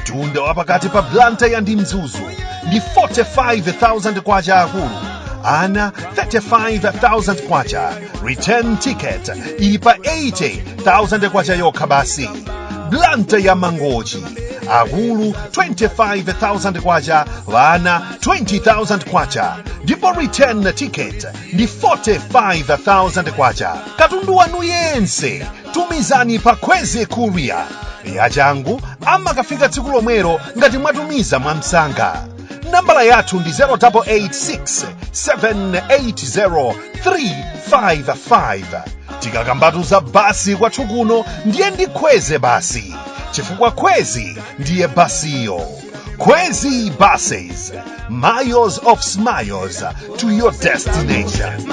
mtunda wa pakati pa blantyre ndi mzuzu ndi 45,000 kwacha akulu ana 35,000 kwacha return ticket ili pa 80,000 kwacha yokha basi blantyre ndi mangochi akulu 25,000 kwacha ana 20,000 kwacha ndipo return ticket ndi 45,000 kwacha katundu wanu yense tumizani pa kwezi courier yachangu amakafika tsiku lomwelo ngati mwatumiza mwamsanga nambala yathu ndi 0886 780 355 tikakambatu za basi kwathu kuno ndiye ndi kwezi basi chifukwa kwezi ndiye basiyo kwezi buses miles of smiles to your destination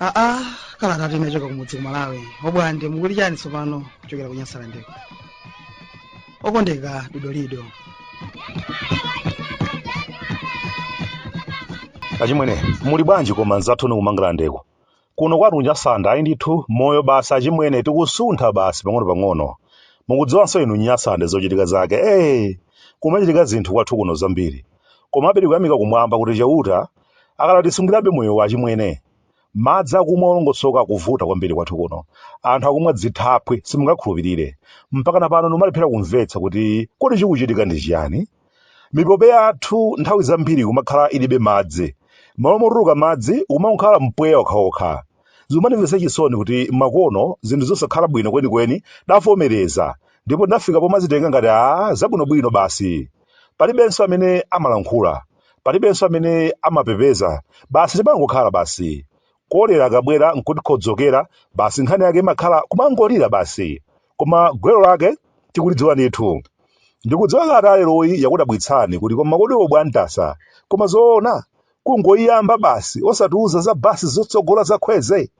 aa kalatayi inachoka kumudzi ku malawi obwande mukuti chani tsopano kuchokera ku nyasalandeko okondeka dodolido achimwene muli bwanji koma nzathu ni kumangalandeko Kuno kwathu ku Nyasalande ayi ndithu moyo basi achimwene tikusuntha basi pang'onopang'ono. Mukudziwanso inu Nyasalande zochitika zake ee! Kumachitika zinthu kwathu kuno zambiri. Komabe tikuyamika kumwamba kuti Chauta akadatisungirabe moyowu achimwene. Madzi akumwa olongosoka akuvuta kwambiri kwathu kuno. Anthu akumwa dzithaphwi simungakhulupirire. Mpakana pano ndimalephera kumvetsa kuti kodi chikuchitika ndi chiyani? Mipope yathu nthawi zambiri ikumakhala ilibe madzi. M'malo motuluka madzi, ukumangokhala mpweya wokhawokha. Zikumanimvetsa chisoni kuti pakano zinthu zosakhala bwino kwenikweni tidavomereza ndipo tinafika pomazitenga ngati zabwinobwino basi. Palibenso amene amalankhula. Palibenso amene amapepesa. Basi timangokhala basi. Kolera akabwera n'kutikhodzokera, basi nkhani yake imakhala kumangolira basi. koma gwero lake tikulidziwa ndithu ndikudziwa kalata ya leroyi yakudabwitsani kuti koma kodi obwantasa koma zoona kungoyiyamba basi osatiuza za basi zotsogola za kwezi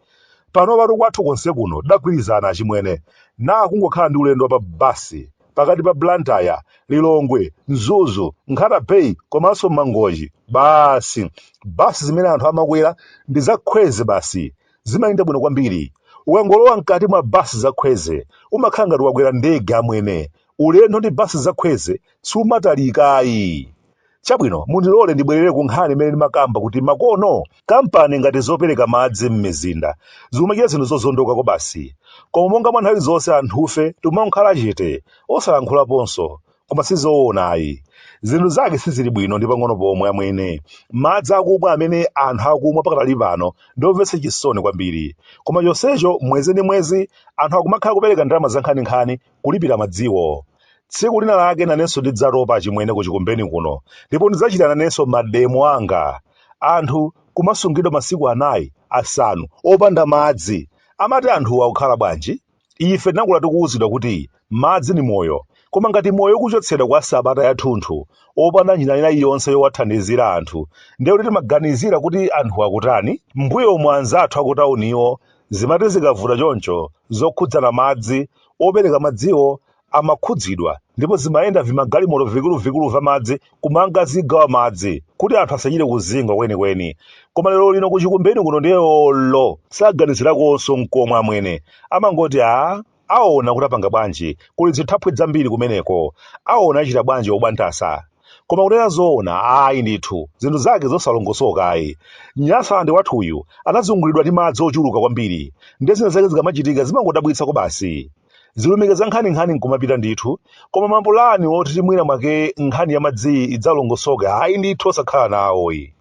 panopatu kwathu konse kuno tidagwirizana achimwene ukangokhala ndi ulendo wa pa basi pakati pa blantyre lilongwe mzuzu nkhata bay komanso mangochi basi basi zimene anthu amakwera ndi za kwezi basi Zimayenda bwino kwambiri. Ukangolowa m'kati mwa basi za Kwezi, umakhala ngati wakwera ndege amwene. Ulendo ndi basi za Kwezi sumatalika ayi. Chabwino, mundilole ndibwerere ku nkhani imene ndimakamba kuti makono kampani ngati zopereka madzi m'mizinda zikumachita zinthu zozondoka kwabasi. Koma monga mwa nthawi zonse anthufe tikumangokhala chete, osalankhulaponso. Koma si zoona ayi. Zinthu zake sizili bwino ndi pang'ono pomwe amwene. Madzi akumwa amene anthu akumwa pakadali pano ndi omvetsa chisoni kwambiri. Koma chonsecho mwezi ndi mwezi anthu akumakhala kupereka ndalama zankhaninkhani kulipira madziwo. Tsiku lina lake nanenso ndidzatopa achimwene ku Chikumbeni kuno ndipo ndidzachita nanenso mademo anga. Anthu kumasungidwa masiku anayi, asanu opanda madzi. Amati anthuwa akukhala bwanji? Ife tinakula tikuwuzidwa kuti madzi ndi moyo, koma ngati moyo ukuchotsedwa kwa sabata yathunthu opanda njira ina iliyonse yowathandizira anthu, ndiye kuti timaganizira kuti anthu akutani? M'mbuyomu anzathu akutawuniwo zimati zikavuta choncho zokhudzana madzi, opereka madziwo amakhudzidwa ndipo zimayenda vimagalimoto vikulu-vikulu va madzi kumangazigawa madzi kuti anthu asachite kuzingwa kweni-kweni. Koma lero lino ku Chikumbeni kuno ndiye olo saganizirakonso nkomwe amwene. Amangoti a aona kuti apanga bwanji kuli zithaphwi zambiri kumeneko. Aona achita bwanji obwantasa. Koma kunena zoona ayi ndithu zinthu zake zosalongosoka ayi. Nyasaland wathu uyu anazungulidwa ndi madzi ochuluka kwambiri ndiye zina zake zikamachitika zimangodabwitsa kobasi. Zilumika za nkhaninkhani n'kumapita ndithu, koma mapulani oti mwina mwake nkhani ya madziyi idzalongosoke ayi ndithu osakhala nawoyi.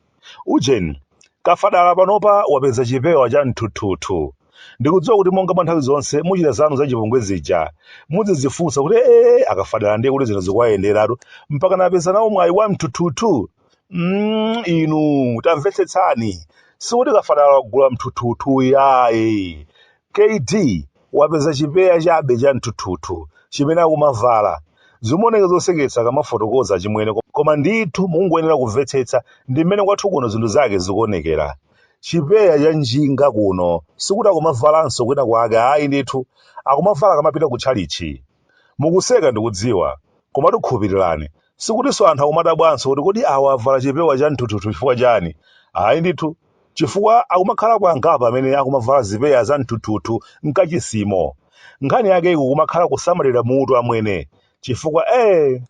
Ujeni, kafadala panopa wapeza chipewa cha mthuthuthu. Ndikudziwa kuti monga mwa nthawi zonse muchita zanu zachipongwe zija, muzidzifunsa kuti ee akafadala ndiye kuti zinthu zikuwayenderatu mpakana apeza nawo mwayi wa mthuthuthu? Mm, inu tamvetsetsani, sikuti kafadala wagula mthuthuthu yayi. Kd wapeza chipeya chabe cha mthuthuthu chimene akumavala? Zimaoneka zoseketsa kamafotokoza achimwene koma ndithu mukungoyenera kumvetsetsa ndi mmene kwathu kuno zinthu zake zikuonekera. Chipeya cha njinga kuno sikuti akumavalanso kwina kwake ayi ndithu akumavala akamapita ku tchalitchi. Mukuseka ndikudziwa komatu khulupirirani sikutinso anthu akumadabwanso kuti kodi awa avala chipewa cha mthuthuthu chifukwa chani ayi ndithu. chifukwa akumakhalako angapo amene akumavala zipeya za mthuthuthu mkachisimo. Nkhani yake ikumakhala kusamalira mutu amwene, chifukwa ee!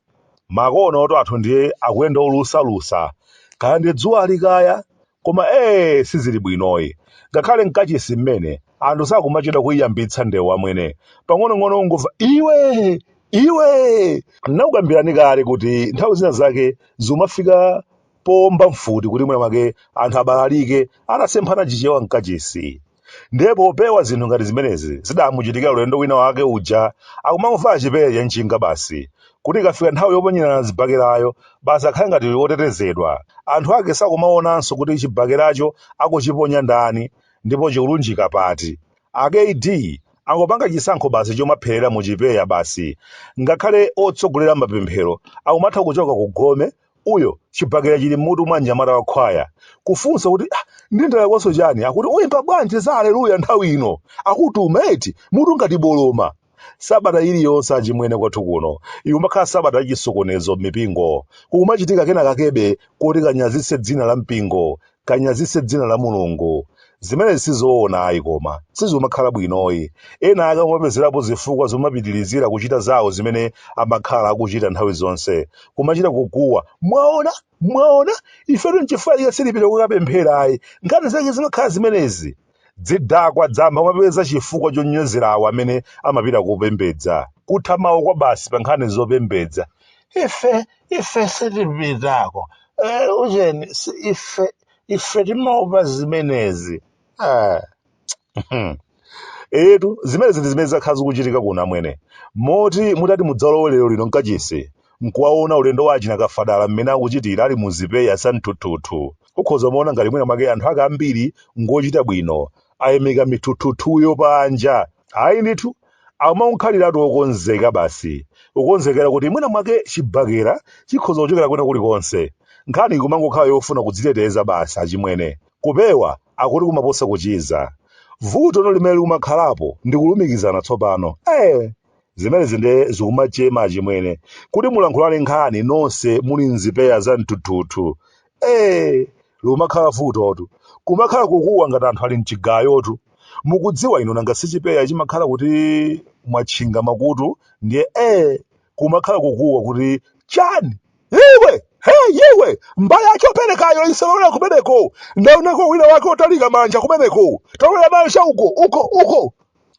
Makonoto athu ndiye akuyenda olusa-lusa, kaya ndi dzuwali kaya, koma ee! sizili bwinoyi. Ngakhale mkachisi mmene, anthu sakumachedwa kuiyambitsa ndewu amwene, pang'onong'ono ungomva iwee! iwee! Ndinakukambirani kale kuti nthawi zina zake zimafika powomba mfuti kuti mwina mwake anthu abalalike atasemphana chichewa mkachisi ndiye popewa zinthu ngati zimenezi zidamuchitikira ulendo wina wake uja akumangovala chipeya cha njinga basi kuti ikafika nthawi yoponyerana zibakerayo basi akhale ngati wotetezedwa anthu ake sakumaonanso kuti chibakeracho akuchiponya ndani ndipo chikulunjika pati akd angopanga chisankho basi chomapherera mu chipeya basi ngakhale otsogolera mapemphero akumatha kuchoka ku gome uyo chibakera chili m'mutu mwa mnyamata wa khwaya kufunsa kuti ah, ndi ndalakwanso chani akuti uyimba bwanji za aleluya nthawi ino akutuma eti mutu ngati boloma sabata iliyonse achimwene kwathu kuno ikumakhala sabata yachisokonezo m'mipingo kukumachitika kena kakebe koti kanyazitse dzina la mpingo kanyazitse dzina la mulungu zimenezi sizoona ayi koma sizikumakhala bwinoyi ena ake amapezerapo zifukwa zomapitilizira kuchita zawo zimene amakhala akuchita nthawi zonse kumachita kukuwa mwaona mwaona ifetu nchifukwa chake sitipita kukapemphera ayi nkhani zake zimakhala zimenezi Dzidakwa dzamba kumapeza chifukwa chonyozera awo amene amapita kopembedza. Kutha mawu kwabasi pa nkhani zopembedza. Ife, ife sitipitako. Eh, ujeni, si ife, ife timaopa zimenezi. Ah. Etu, zimenezi ndi zimene zakhala zikuchitika kuno amwene. Moti mutati mudzalowe lero lino mkachisi, nkuwaona ulendo wa achina kafadala mmene akuchitira ali mu zipeya za mthuthuthu. ukhoza umaona ngati mwina mwake anthu ake ambiri ngochita bwino ayimika mithuthuthuyo panja ayi ndithu akumakhaliratu okonzeka basi ukonzekera kuti mwina mwake chibakera chikhoza kuchokera kwina kulikonse nkhani ikumangokhala yofuna kudziteteza basi achimwene kupewa akuti kumaposa kuchiza vuto no limene likumakhalapo ndi kulumikizana tsopano eh zimenezi nde zikumachema achimwene kuti mulankhulane nkhani nonse muli mzipeya za mthuthuthu ee lumakhala vutotu kumakhala kukuwa ngati anthu ali mchigayotu mukudziwa inu nanga sichipeya chimakhala kuti mwatchinga makutu ndiye ee kumakhala kukuwa kuti chani iwe he iwe mbale ya choperekayo isalolera kumeneko ndaonako wina wake otalika manja kumeneko talolera nayo cha uko uko uko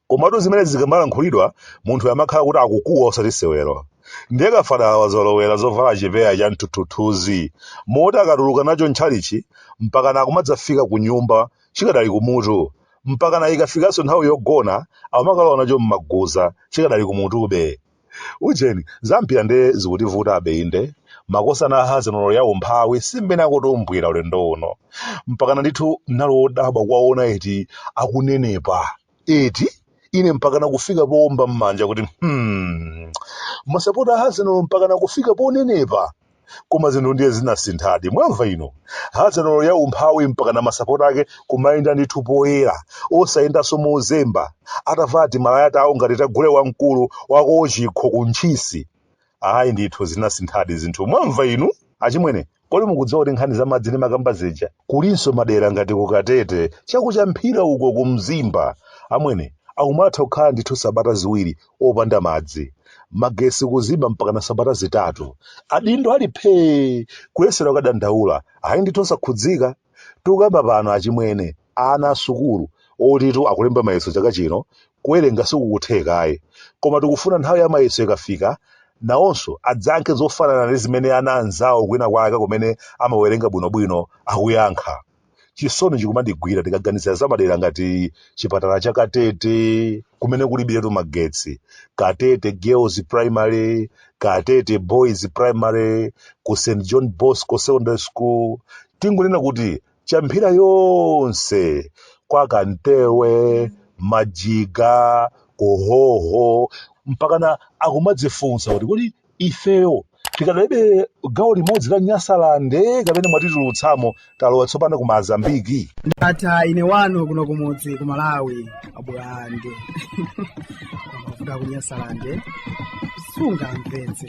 komatu zimenezi zikamalankhulidwa munthu amakhala kuti akukuwa osati sewero ndiye kafadala wazolowera zovala chipeya cha mthuthuthuzi moti akatuluka nacho mtchalitchi mpakana akumadzafika ku nyumba chikadali kumutu mpakana ikafikanso nthawi yogona akumakalowa nacho m'maguza chikadali kumutube ujeni zampira nde zikutivutabe inde makosana a Arsenal ya umphawi simmene akutumbwira ulendo uno mpakana ndithu nali wodabwa kuwaona eti akunenepa eti ine mpakana kufika poomba mmanja kuti hmm masapota a Arsenal mpakana kufika ponenepa koma zinthu ndiye zinasinthadi mwamva inu hazelolo ya umphawi mpaka na masapota ake kumayenda ndithu poyera osayendanso mozemba atavala timalaya tawo ngati tagule wamkulu wa ko Chikho ku ntchisi ayi ndithu zinasinthadi zinthu mwamva inu achimwene kodi mukudziwa kuti nkhani za madzi ndimakamba zija kulinso madera ngati ku katete cha ku champhira uko ku mzimba amwene akumatha kukhala ndithu sabata ziwiri opanda madzi magetsi kuzima mpakana sabata zitatu adindo ali phee kuyesera kukadandaula ayi ndithu osakhudzika tikukamba pano achimwene ana asukulu oti akulemba mayeso chaka chino kuwerenga sikukutheka ayi koma tikufuna nthawi ya mayeso ikafika nawonso adzayankhe zofanana ndi zimene ana anzawo kwina kwake kumene amawerenga bwinobwino akuyankha chisoni chikumandigwira tikaganizira za madera ngati chipatala cha katete kumene kulibiretu magetsi katete girls primary katete boys primary ku st john bosco secondary school tingonena kuti champhira yonse kwa kamtewe majiga kuhoho mpakana akumadzifunsa kuti kodi ifeyo tikadali gawo limodzi la nyasalande kapena mwatitulutsamo talowa tsopano ku mazambiki ndatha ine wanu kuno kumudzi ku malawi abulande mafuta ku nyasalande sungamvetse